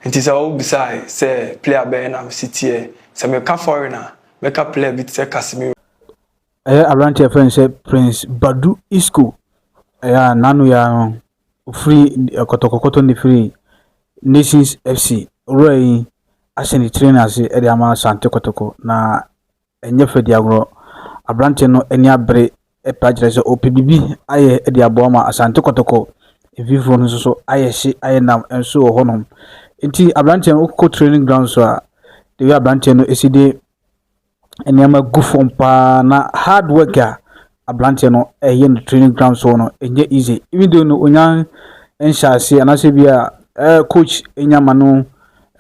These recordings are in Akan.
Enti sɛ wo bisae sɛ player bɛn na me si teɛ, sɛ me ka foreign a, mɛ ka player bi te sɛ Casemiro. Ɛyɛ abranteɛ yɛfrɛ no sɛ Prince Badu Isco, ɛyɛ a n'ano yɛ ara no ofiri kɔtɔkɔkɔtɔ na efiri Nations FC wura yi ahyɛ ne tiri no ase de ama Asante Kɔtɔkɔ na Ɛnyɛ fɛ di agorɔ. Aberanteɛ no ani abere pɛ akyerɛ sɛ ɔpɛ biribi ayɛ de aboa ma Asante Kɔtɔkɔ. Mfimfini no nso so ayɛ hye ayɛ nam nso wɔ hɔnom. Nti aberanteɛ no wokɔ training ground so a the way aberanteɛ no si de nneɛma gu fam paa na hard work a abranteɛ no ɛyɛ no training ground soɔ no ɛnyɛ easy even though no onya nhyɛ aseɛ anaasɛ bi a eh, coach nya ma no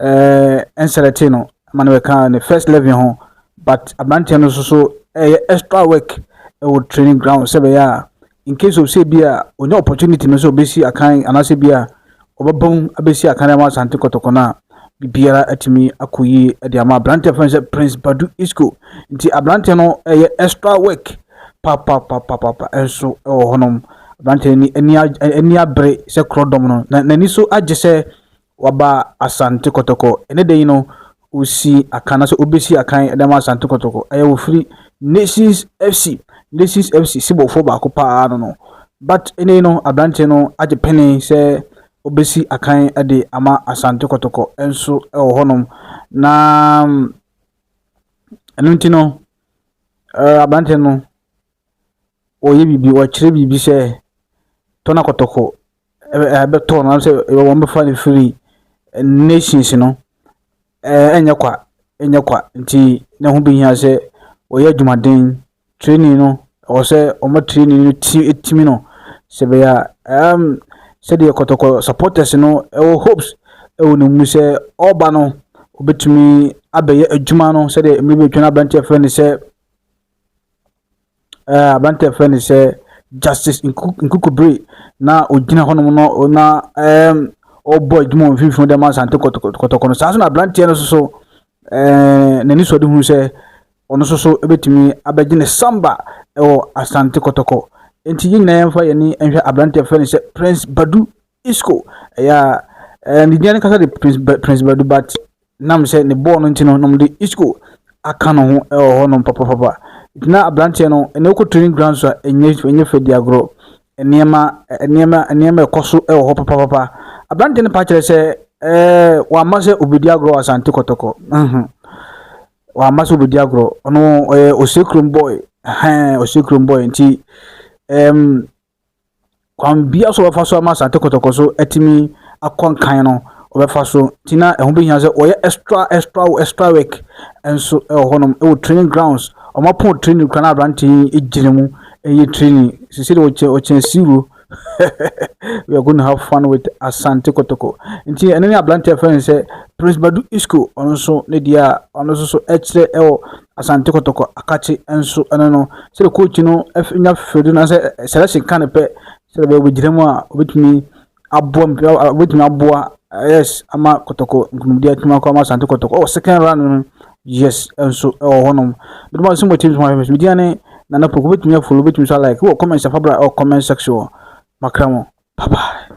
eh, nselɛte no ma no bɛka ne first level ho but abranteɛ no nso so ɛyɛ extra work ɛwɔ training ground sɛ bɛyɛ a in case of sɛ bi a onya opportunity no sɛ ɔbɛsi akan anaasɛ bi a wɔbɛbom abɛsi Akanema Asante Kɔtɔkɔ no a, biribiara atumi akɔ yie de ama aberanteɛ fɛn sɛ Prince Badu Isco. Nti aberanteɛ no ɛyɛ extra work papapapapa nso wɔ hɔnom. Aberanteɛ ni ani ani abere sɛ korɔdɔm no, na n'ani so agye sɛ waba Asante Kɔtɔkɔ. Ɛne da yi no, Ɔsi akan anaasɛ ɔbɛsi akan de ama Asante Kɔtɔkɔ. Ɛyɛ wɔfiri Nations FC. Nations FC sebɔfoɔ baako paa no no. But ɛnɛ no aberanteɛ no agye pene sɛ ɔbɛsi akan de ama Asante Kɔtɔkɔ nso wɔ hɔnom. Na ɛno nti no aberanteɛ no ɔyɛ biribi, ɔkyerɛ biribi sɛ Tɔna Kɔtɔkɔ bɛtɔ no anaasɛ wɔbɛfa no firi nations no ɛnyɛ kwa, ɛnyɛ kwa. Nti na ɛho behia sɛ wɔyɛ adwumaden. Training no, ɛwɔ sɛ wɔma training no ti tumi no sɛ ɛbɛyɛ a ɛɛm sɛdeɛ kɔtɔkɔ supporters no wɔ hopes wɔ ne mu sɛ ɔreba no, ɔbɛtumi abɛyɛ adwuma no sɛdeɛ mmerɛ bi atwa no aberanteɛ a wɔfrɛ no sɛ Ɛɛ, aberanteɛ a yɛfrɛ no sɛ Justice Nkukubre na ɔgyina hɔnom no na ɛɛm ɔrebɔ adwuma wɔ mfimfini dɛm Asante kɔtɔkɔtɔkɔ no saa nso na aberanteɛ no nso so ɛɛ n'ani sɔ de hu sɛ ɔno nso so bɛtumi abɛgye ne samba wɔ Asante kɔtɔkɔ nti yɛn nyinaa yɛmfa yɛn ani nhwɛ aberanteɛ fɛ no sɛ Prince Badu Isco ɛyɛ a ɛɛ ne din ankasa de Prince Prince Badu but nam sɛ ne bɔɔl no nti no na wɔde Isco aka ne ho wɔ hɔnom papapapa. Nti na aberanteɛ no ɛnna wokɔ training ground so a ɛnyɛ ɛnyɛ fɛ di agorɔ. Nneɛma nneɛma nneɛma ɛkɔ so wɔ hɔ papapapa. Aberanteɛ no pa kyerɛ sɛ ɛɛ wamma sɛ obedi agorɔ wɔ Asante Kɔtɔkɔ. Mhm. Wamma sɛ obedi agorɔ. Ɔno ɔyɛ Osei Kurom boy. Ɛhɛn Osei Kurom boy nti ɛɛm kwan biara so a wɔbɛfa so ama Asante Kɔtɔkɔ so atumi akɔ nkan no wɔbɛfa so nti na ɛho bɛhia sɛ wɔyɛ extra extra extra work nso wɔ hɔnom wɔ training grounds wɔn apɔn training kora na aberante yi gyina mu ɛyɛ training sisi de wɔkyɛ wɔkyɛ siwuro we are going to have fun with Asante Kɔtɔkɔ nti ɛno ne aberante a fɛn sɛ Prince Badu Isco ɔno nso ne deɛ a ɔno nso so ɛkyerɛ ɛwɔ Asante Kotoko akakye nso ne no sɛdeɛ coach no nya fɛdi no sɛ selection ka no pɛ sɛdeɛ bɛyɛ wɔbɛgyina mu a wɔbɛtumi aboa wɔbɛtumi aboa yes ama Kotoko nkunimdie atumi akɔ ama Asante Kotoko ɛwɔ second round no yes nso ɛwɔ hɔnom binom a sɛ mo teams ho ahwɛ sɛ media ne nana poko wɔbɛtumi afolo wɔbɛtumi nso alike wɔ comment safa bra ɛwɔ comment section wɔ makra mu bye bye